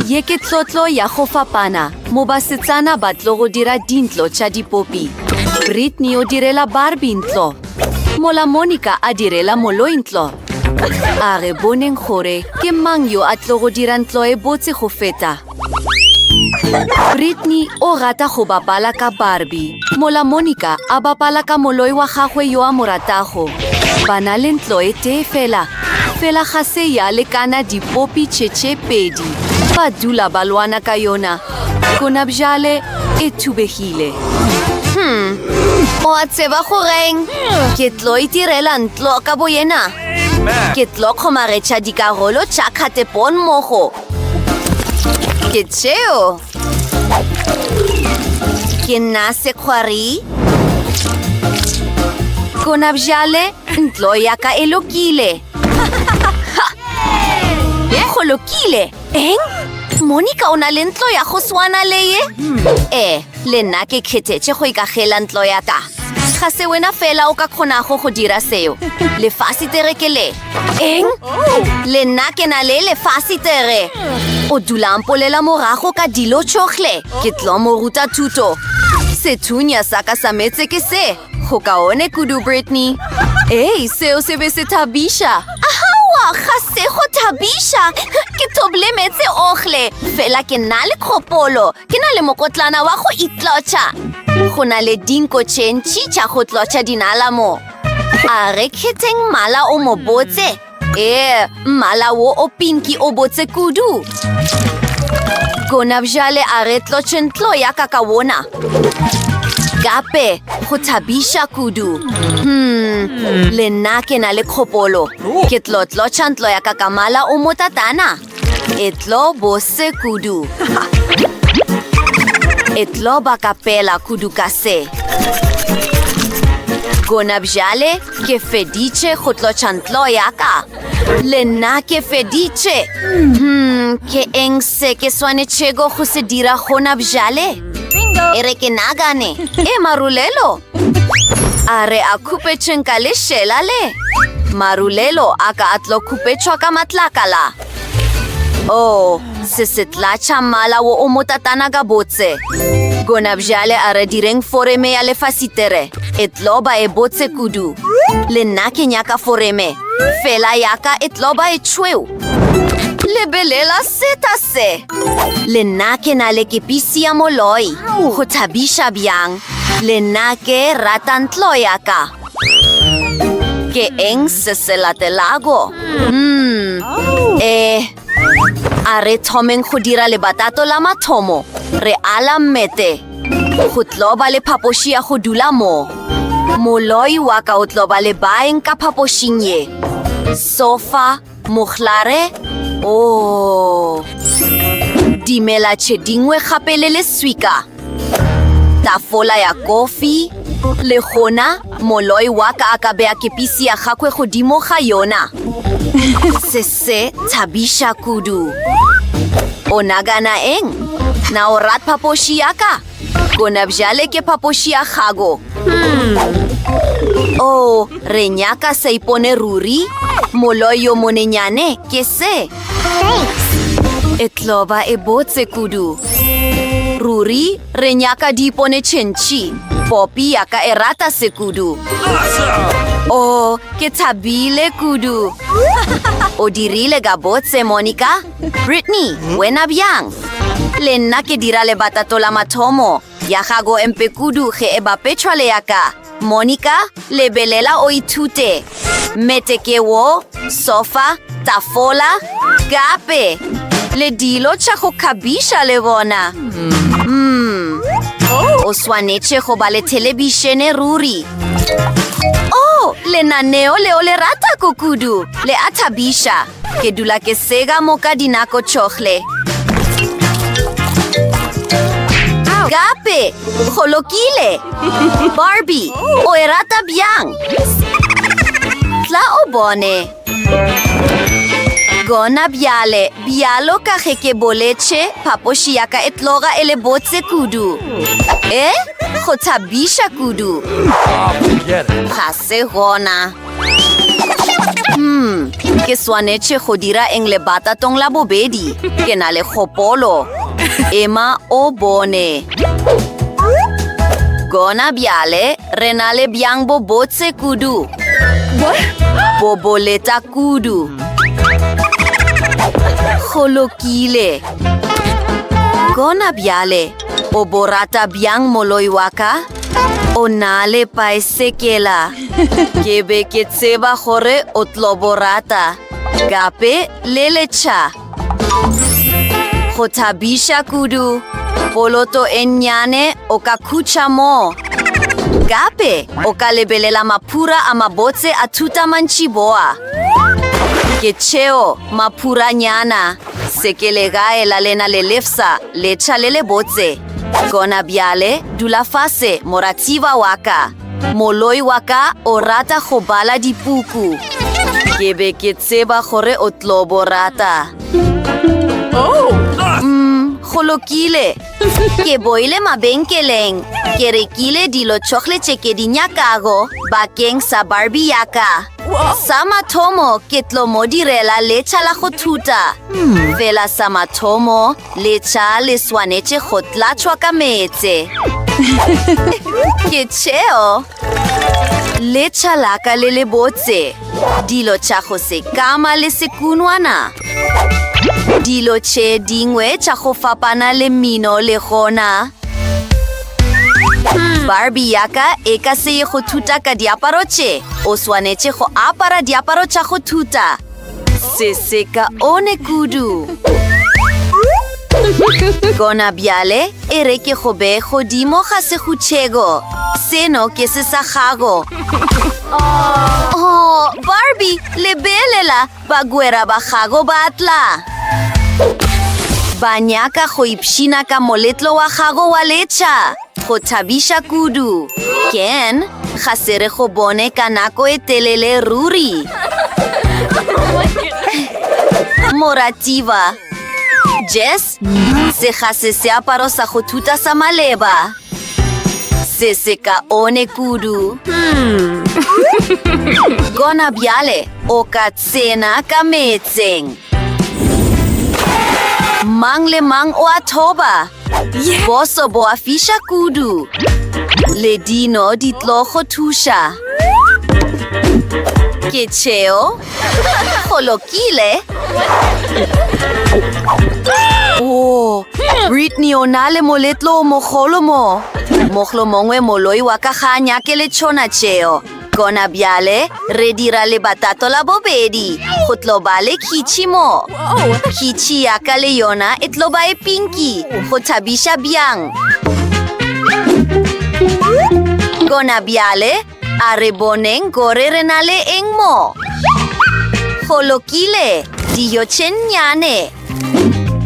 Ye ke tlotlo ya go fapana mo basetsana ba tlo go dira dintlo tša dipopi. Brittany o direla Barbie ntlo, mola Monica a direla moloi ntlo. A re boneng gore ke mang yo a tlo go dira ntlo e botse go feta. Brittany o rata go bapala ka Barbie, mola Monica a bapala ka moloi wa gagwe yo a mo ratago. Ba na le ntlo e tee fela Fela ga se ya lekana dipopi tše tše pedi ba dula ba lwana ka yona, gonabjale e thubegile. Hum, o a tseba goreng? Ke tlo itirela ntlo ka boyena. Ke tlo kgomaretša dikarolo tša kgatepon mogo. Ke tšeo. ke nna sekgwari gona bjale ntlo ya ka e lokile go lokile eng monica o na le ntlo ya go swana le ye ee le nna ke kgethetše go ikagela ntlo ya ka ga se wena fela o ka kgonago go dira seo lefase tere ke le Eng? Le nna ke na le lefase tere. O dula mpolela morago ka dilo tšohle. Ke tlo mo ruta thuto. Sethunya sa ka sa metse ke se. Go kaone kudu, Brittany. Ei, seo se be se thabiša. Ahawa, ga se go thabiša. Ke thoble metse ohle. Fela ke na le kgopolo. Ke na le mokotlana wa go itlotšha. Go na le dinko tše ntši tša go tlotšha dinala mo. A re kheteng mmala o mo botse? Ee, mmala wo o pinki o botse kudu. Gona bjale a re tlotše ntlo ya ka ka wona. Gape go thabiša kudu. Hmm, le nna ke na le kgopolo. Ke tlo tlotša ntlo ya ka ka mmala o motatana. E tlo bose kudu. E tlo ba kapela kudu ka se. Gona bjale ke feditše go tlotšha ntlo ya ka. Le nna ke feditše. Hmm, ke eng se ke swanetšego go se dira gona bjale? E re ke nagane. E marulelo. A re a khupetšeng ka lešela le? Marulelo a ka a tlo khupetšwa ka matlakala. O, oh, se se tlatša mmala wo o motatana ka botse. Gona bjale a re direng foreme ya lefasitere. E tlo ba e botse kudu. Le nna ke nyaka foreme. Fela yaka e tlo ba e tšhweu. Lebelela seta se! Le nna ke na le kepisi ya moloi. Go thabiša bjang! Le nna ke rata ntlo ya ka. Ke eng se se latelago? Umm, eh, a re thomeng go dira lebatato la mathomo. Re ala mmete. Go tlo ba le phapoši ya go dula mo. Moloi wa ka o tlo ba le baeng ka phapošing ye. Sofa. Mohlare o dimela tše dingwe gape le leswika, tafola ya kofi, le gona moloi wa ka a ka bea kepisi ya gagwe godimo ga yona. Se se thabiša kudu. O nagana eng? Na o rat phapoši ya ka? Gona bjale ke phapoši ya gago. Hmm. Oh, re nyaka sa ipone ruri. Moloi yo monenyane ke se. E tloba e botse kudu. Ruri, re nyaka di ipone tšhentšhi. Popi ya ka e rata se kudu. Oh, ke thabile kudu. O dirile ka botse, Monica. Brittany, wena bjang? Le nna ke dira lebatato la mathomo ya gago empe kudu ge e bapetšhwa le yaka. Monica, lebelela o ithute. Mete ke wo, sofa, tafola, gape le dilo tša go kgabiša le bona. Mm. O swanetše go ba le thelebišene ruri. Oh, lenaneo leo le rata kukudu, le a thabiša. Ke dula ke sega moka dinako tšohle. Gape, go lokile. Barbie, o e rata bjang? Tla o bone. Gona bjale, bjalo ka ge ke boletše, phapoši ya ka e tloga e le botse kudu. E, go thabiša kudu. Ga se gona. Hmm, ke swanetše go dira eng le batatong la bobedi ke na le kgopolo ema o bone gona bjale re na le bjang bo botse kudu bo boleta kudu go lokile gona bjale o bo rata bjang moloi wa ka O na le paesekela. Ke be ke tseba gore o tlo bo rata. Gape le letšha. Go thabiša kudu. Poloto e nnyane o ka khutšha moo. Gape o ka lebelela maphura a mabotse a thuta mantšiboa. Ke tšeo maphuranyana. Sekele gae la lena le lefsa, letšha le le botse. Gona bjale, dula fase, moratiba wa ka. Moloi wa ka o rata go bala dipuku. Ke be ke tseba gore o tlo bo rata. Oh! Umm, go lokile. Ke boile mabenkeleng. Ke rekile dilo tšohle tše ke di nyakago bakeng sa Barbie yaka. Sa mathomo ke tlo mo direla letšha la go thuta. Hmm. Fela sa mathomo letšha le swanetše go tlatšhwa ka meetse. Ke tšeo. Letša la ka le le botse. Dilo tša go se kama le sekunwana. Dilo tše dingwe tša go fapana le mino le gona. Hmm. Barbie ya ka e ka se ye go thuta ka diaparo tše. O swanetše go apara diaparo tša go thuta. Se se ka one kudu. Gona bjale e re ke go be godimo ga segutšhego. Seno ke se sa gago. Oh, Barbie, lebelela, bagwera ba gago ba tla. Ba nyaka go ipshina ka moletlo wa gago wa letšha. Go thabiša kudu! Ken, ga se re go bone ka nako e telele ruri. Moratiba. Jess, se ga se seaparo sa go thuta sa maleba. Se se ka one kudu. Hmm. Gona bjale, o ka tsena ka metseng. Mang le mang o a thoba. Boso bo a fiša kudu. Ledino di tlo go thuša. Ke tšheo. Go lokile. Oh, Britney o na le moletlo o mogolo mo. Moglo mongwe moloi wa ka ga a nyake le tšhona tšeo. Gona bjale re dira lebatato la bobedi go tlo ba le khitšhi mo. Khitšhi ya ka le yona e tlo ba e pinki go thabiša bjang. Gona bjale a re boneng gore re na le eng mo. Go lokile, dijo tše nnyane.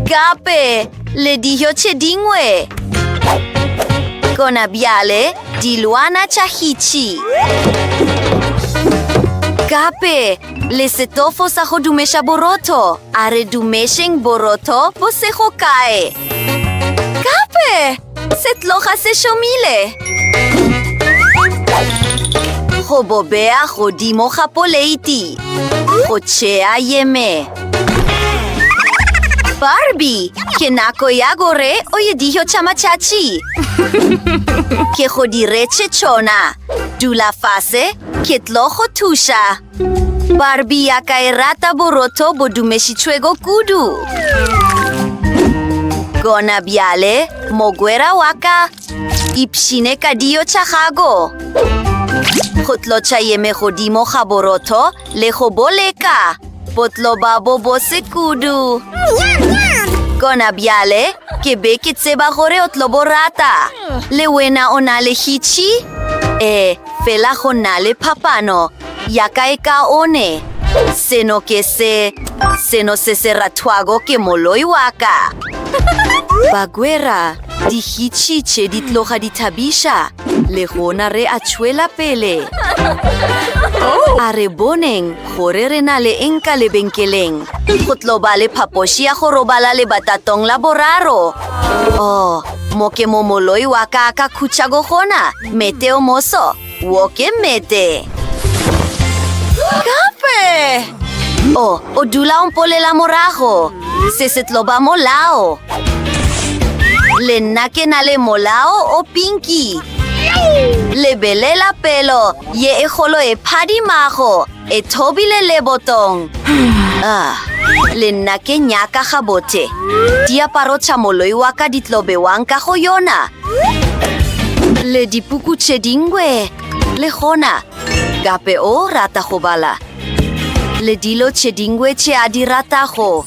Gape le dijo tše dingwe. Gona bjale dilwana tša hitšhi. Gape le setofo sa go dumeša borotho. A re dumešeng borotho bo sego kae. Gape! Se tloga se šomile! Go bo bea godimo ga poleiti. Go tšea yeme. Barbie, ke nako ya gore o ye dijo tša matšatši. Ke go diretše tšona. Dula fase, ke tlo go thuša. Barbie ya ka e rata borotho bo dumešitšhwego kudu. Gona bjale, mogwera wa ka, ipšhine ka dio tša gago. Go tlotšha yeme godimo ga borotho le go boleka. Botlo ba bo bose kudu. Gona bjale, ke be ke tseba gore o tlo bo rata. Le wena o na le hitšhi? Ee, Fela go na le phapano ya kaekaone. Seno ke se, seno se se rathwago ke moloi wa ka. Bagwera, dihitšhitšhe di tloga di thabiša, le gona re a tšwela pele. A re boneng gore re na le eng ka lebenkeleng. Go tlo ba le phapoši ya go robala lebatatong la boraro. Oh, mo ke mo moloi wa ka a ka khutšago gona. Mete o moso, wo ke mete. Gape! O, o dula o mpolela morago. Se se tlo ba molao. Le nna ke na le molao o pinki. Lebelela pelo ye e golo e phadimago. E thobile lebotong. Ah, le nna ke nyaka gabothe. Diaparo tša moloi wa ka di tlo bewang ka go yona. Le dipuku tše dingwe. Le gona, gape o rata go bala. Le dilo tše dingwe tše a di ratago.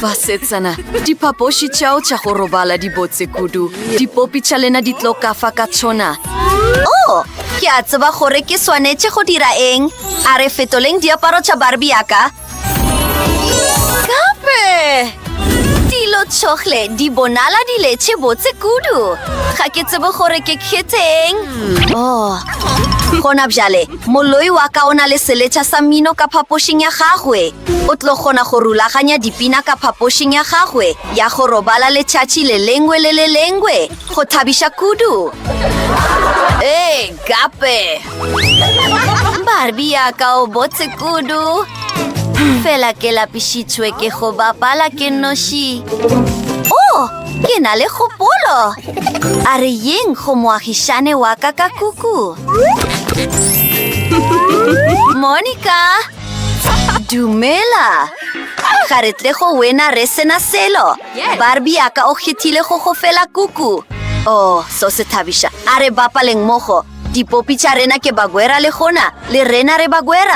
basetsana diphapoši tšao tša go robala di botse kudu dipopi tša lena di tlo kafa ka tšona o oh, ke a tseba gore ke swanetše go dira eng a re fetoleng diaparo tša barbi yaka gape dilo tšhogle di bonala di letše botse kudu ga ke tsebe gore ke kgetheng o oh, gona bjale Moloi wa ka o na le seletša sa mmino ka phapošing ya gagwe. O tlo kgona go rulaganya dipina ka phapošing ya gagwe ya go robala letšatši le lengwe le le lengwe. Go thabiša kudu! Ee, gape! Barbie ya ka o botse kudu. Fela ke lapišitšwe ke go bapala ke noši. Oh! Ke na le kgopolo. A re yeng go moagišane wa ka ka kuku. Monica! Dumela! Ga re tle go wena re sena selo. Barbie ya ka o kgethile go go fela kuku. Oh, so se thabiša. A re bapaleng mogo. Dipopi tša rena ke bagwera le gona. Le rena re bagwera.